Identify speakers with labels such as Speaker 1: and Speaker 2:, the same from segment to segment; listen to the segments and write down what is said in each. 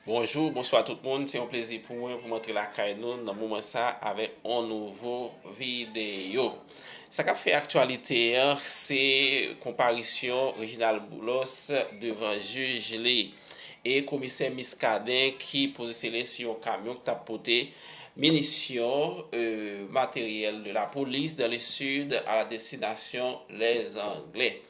Speaker 1: Bonjou, bonswa tout moun, se yon plezi pou mwen pou m antre lakay nou nan moman sa avèk yon nouvo videyo. Sa k ap fè aktyalite an se konparisyon Reginald Boulos devan jij li e komisè Muscadin ki poze sele sou yon kamyon ki t ap pote minisyon, materyèl de la polis dans le sud à la destination les anglais.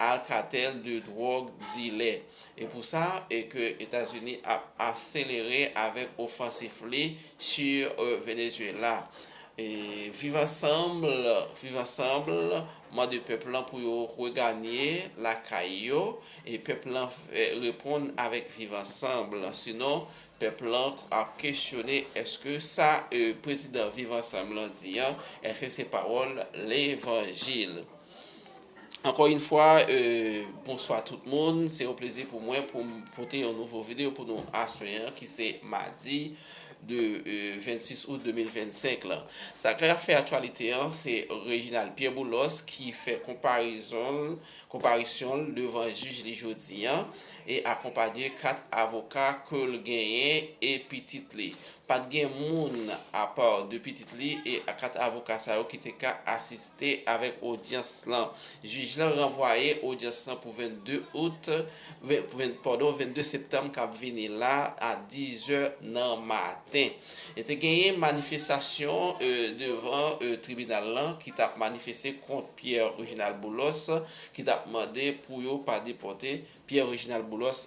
Speaker 1: Alcatel de drog dilè. E pou sa e ke Etazini ap aselere avèk ofansif li sur Venezuela. E viv ansanbl, viv ansanbl, mande pèp lan pou yo reganye lakay yo e pèp lan reponn avèk viv ansanbl sinon pèp lan ap kesyone eske sa e prezidan viv ansanbl lan di an eske se pawòl levanjil. Ankò yn fwa bonswa tout moun, se yon plezi pou mwen poum pote yon nouvo video pou nou aswè an ki se madi de 26 out 2025 lan. Sa ki ap fè aktyalite an se Reginald Pierre Boulos ki fè konparezon l, konparisyon l devan jij li jodi an e akonpanye 4 avoka ke l genyen e pitit li. Pa t gen moun apa de pitit li e 4 avoka sa yo ki te ka asiste avèk odyans lan. Jij lan ranvwaye odyans lan pou 22 out, padon, 22 septanm k ap vini la a 10 zè nan maten. Te genyen manifestasyon devan tribinal lan ki t ap manifeste kont Pierre Reginald Boulos ki t ap mande pou yo pa depòte Pierre Reginald Boulos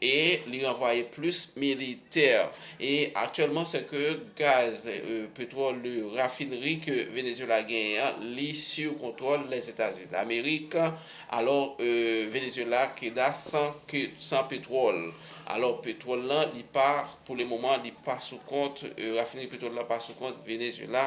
Speaker 1: e li ranvwaye plis militè e aktyèlman se ke gaz petwòl de rafinri ke Venezuela genyen an li siw kontwòl Lèzetazini Damerik alò Venezuela keda san ke san petwòl alò petwòl lan li pa pou le moman li pa sou kont rafinri petwòl lan pa sou kont Venezuela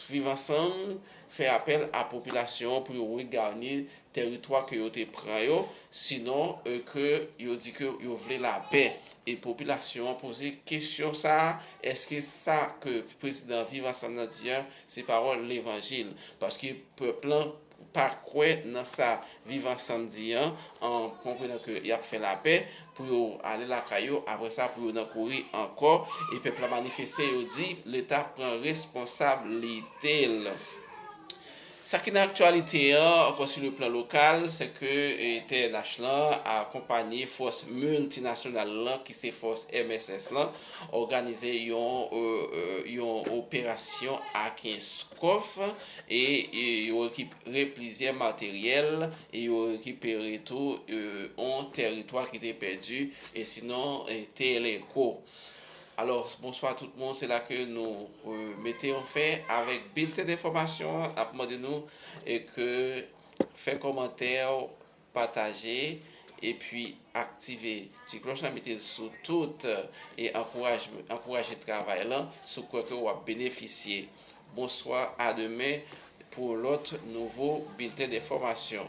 Speaker 1: Viv Ansanm fè apèl a popilasyon an pou yo reganye tèritwa ke yo te pran yo, sinon ke yo di ke yo vle lapè. E popilasyon an poze kesyon sa a, èske sa ke prezidan Viv Ansanm nan di an se pawòl levanjil? Paske pèp lan pa kwè nan sa viv ansanm di an an konprenan ke yap fè lapè pou yo ale lakay yo aprè sa pou yo nan kouri ankò e pèp la manifeste yo di leta pran responsab li te l. Sa ki nan aktyalite an ankò su le plan lokal se ke TNH lan a konpanye fòs milti nasyonal lan ki se fòs mss lan òganize yon yon operasyon a kenskòf E yo rekipere plizyè materyèl e yo rekipere tou yon teritwa ki te pèdi e sinon Teleco. Alò, bonswa tout moun, se la ke nou mete yon fen avèk bilten enfòmasyon an, n ap mande nou ke fè kòmantè ou. Pataje epi aktive ti klòch la mete l sou tout e ankouraj ankouraje travay lan sou kwè ke wap benefisye bonswa a demen pou yon lòt nouvo bilten denfòmasyon.